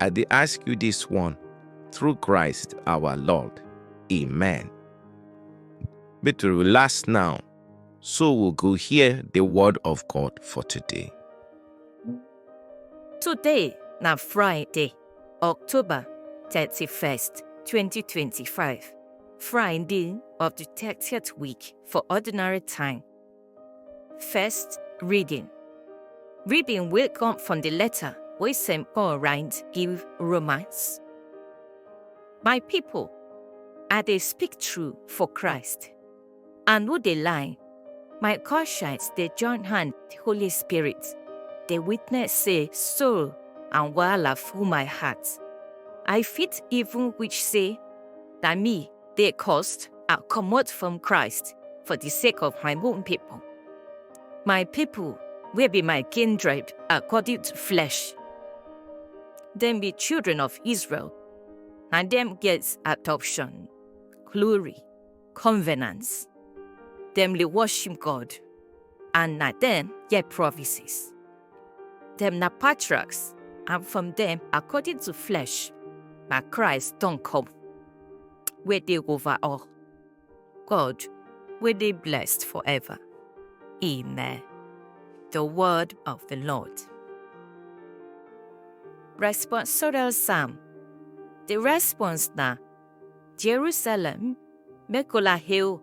I dey ask you this one through Christ our Lord. Amen. Make to relax now, so we go hear the word of God for today. Today na Friday, October 31st, 2025. Friday of the 30th week for ordinary time. First reading. Reading will come from the letter wey St. Paul write give Romans. My people, I dey speak true for Christ. I no dey lie. My conscience dey join hand the Holy Spirit. Dey witness say soul and wahala full my heart. I fit even wish say na me dey cursed and comot from Christ for the sake of my own people. My people wey be my kindred according to flesh. Dem be children of Israel, na dem get adoption, glory, covenants. Dem dey worship God, and na dem get promises. Dem na patriarchs, and from dem, according to flesh, na Christ don come, wey dey over all. God, wey dey blessed forever. Amen. The word of the Lord. Responsorial Psalm. The response na Jerusalem, make una hail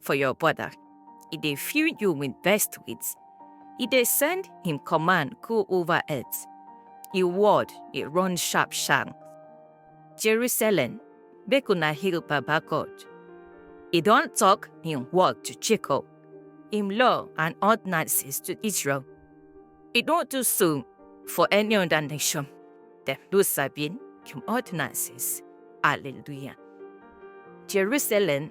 for your border. He dey fill you with best wits. He dey send him command go over earth. His word dey run sharp sharp. Jerusalem, make una hail Baba God. He don talk him word to Jacob, him law and ordinances to Israel. He don do so for any other nation. Dem no sabi him ordinances. Hallelujah. Jerusalem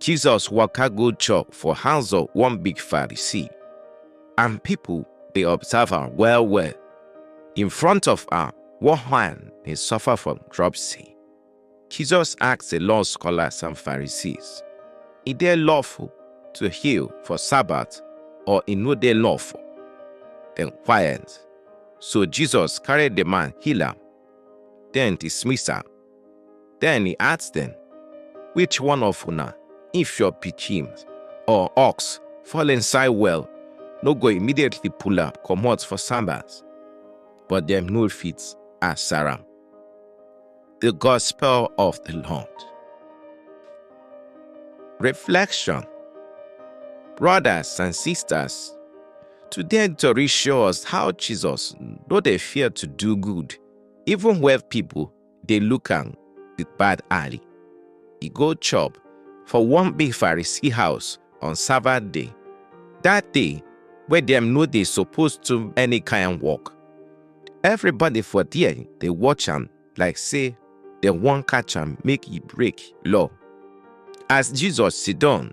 Jesus waka go chop for house of one big Pharisee, and people dey observe am well well. In front of am, one man dey suffer from dropsy. Jesus ask the law scholars and Pharisees, E dey lawful to heal for Sabbath or e no dey lawful? Dem quiet. So Jesus carry the man heal am, then dismiss am. Den e ask dem, Which one of una, if your pikin or ox fall inside well, no go immediately pull am comot for Sabbath? But dem no fit answer am. The Gospel of the Lord. Reflection Brothers and sisters, today tori show us how Jesus no dey fear to do good even when people dey look am with bad eye. E go chop for one big Pharisee house on Sabbath day, that day wey dem no dey suppose do any kind work. Everybody for there dey watch am like say dem wan catch am make e break law. As Jesus sit down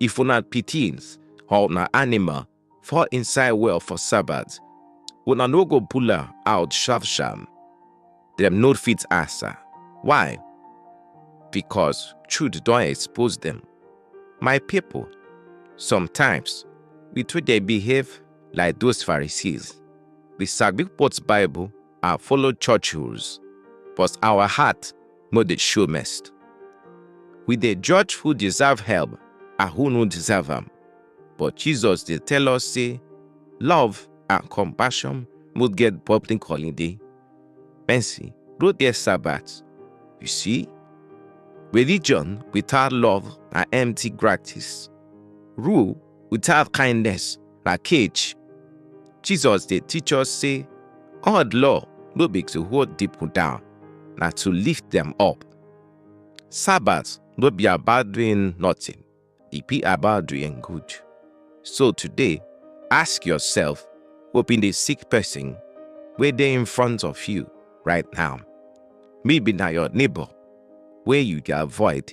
If una pitins or una anima fall inside well for Sabbath, una no go pull am out sharp sharp? Dem no fit ansa. Why? Because truth don expose dem. My pipo, sometimes we too dey behave like those Pharisees. We sabi quote Bible and follow church rules, but our heart no dey show mercy. We dey judge who deserve help and who no deserve am, but Jesus dey tell us say love and compassion no get public holiday. Mercy no get Sabbath. You see, religion without love na empty practice. Rule without kindness na cage. Jesus dey teach us say God law no be to hold people down, na to lift them up. Sabbath no be about doing nothing, e be about doing good. So today, ask yourself, hope in the sick person where they in front of you right now. Maybe now your neighbor, where you can avoid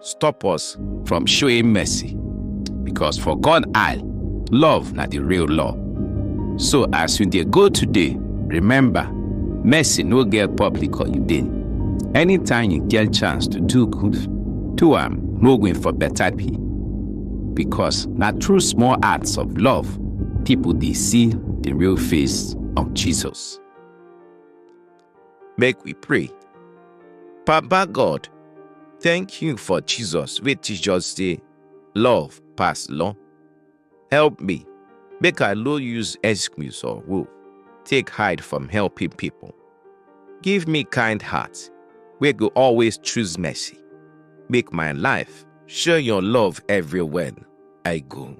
stop us from showing mercy. Because for God eye, love na the real law. So as you dey go today, remember, mercy no get public holiday. Anytime you get chance to do good, do am no win for better pay. Because na through small acts of love, people dey see the real face of Jesus. Make we pray. Papa God, thank you for Jesus wey teach us say love pass law. Help me make I no use excuse or rule take hide from helping people. Give me kind heart wey go always choose mercy. Make my life show your love everywhere I go.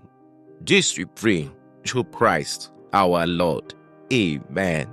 This we pray through Christ our Lord. Amen.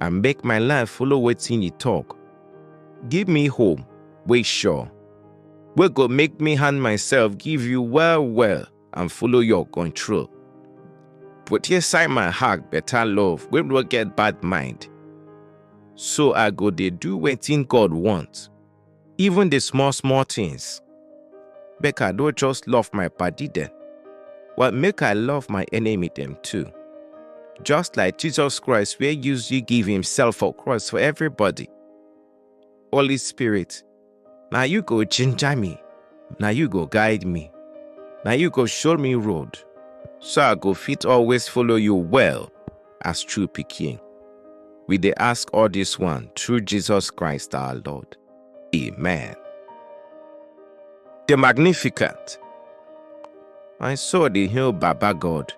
I make my life follow wetin you talk. Give me hope wey sure, wey go make me hand myself give you well well and follow your control. Put inside my heart better love wey no get bad mind. So I go dey do wetin God want. even the small small things. Make I no just love my body dem, but make I love my enemy dem too. Just like Jesus Christ wey use you give himself for cross for everybody. Holy Spirit, na you go ginger me, na you go guide me, na you go show me road, so I go fit always follow you well. as true pikin. We dey ask all this one through Jesus Christ our Lord. Amen. The Magnificat. My soul dey hail Baba God.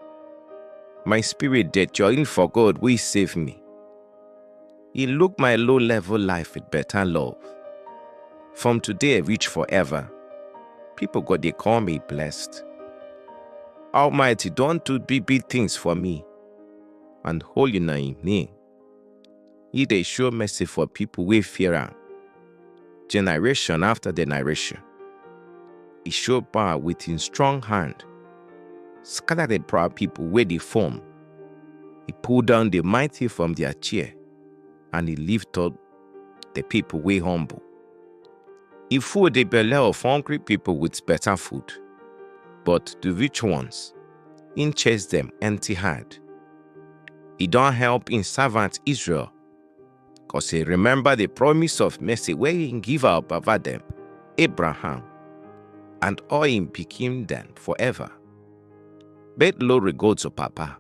My spirit dey join for God wey save me. He look my low level life with better love. From today reach forever, people go dey call me blessed. Almighty don do big big things for me. and holy na im name. He dey show mercy for people wey fear am, generation after generation. He show power with him strong hand, scatter the proud people wey dey form. He pull down the mighty from their chair, and he lift up the people wey humble. He full the belle of hungry people with better food, but the rich ones im chase dem empty hand. E don help im servant Israel, cos e remember the promise of mercy wey im give our baba dem, Abraham, and all im pikin dem forever. But glory go to Papa,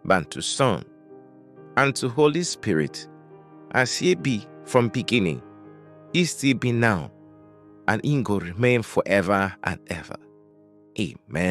and to Son, and to Holy Spirit, as e be from beginning, e still be now, and im go remain forever and ever. Amen.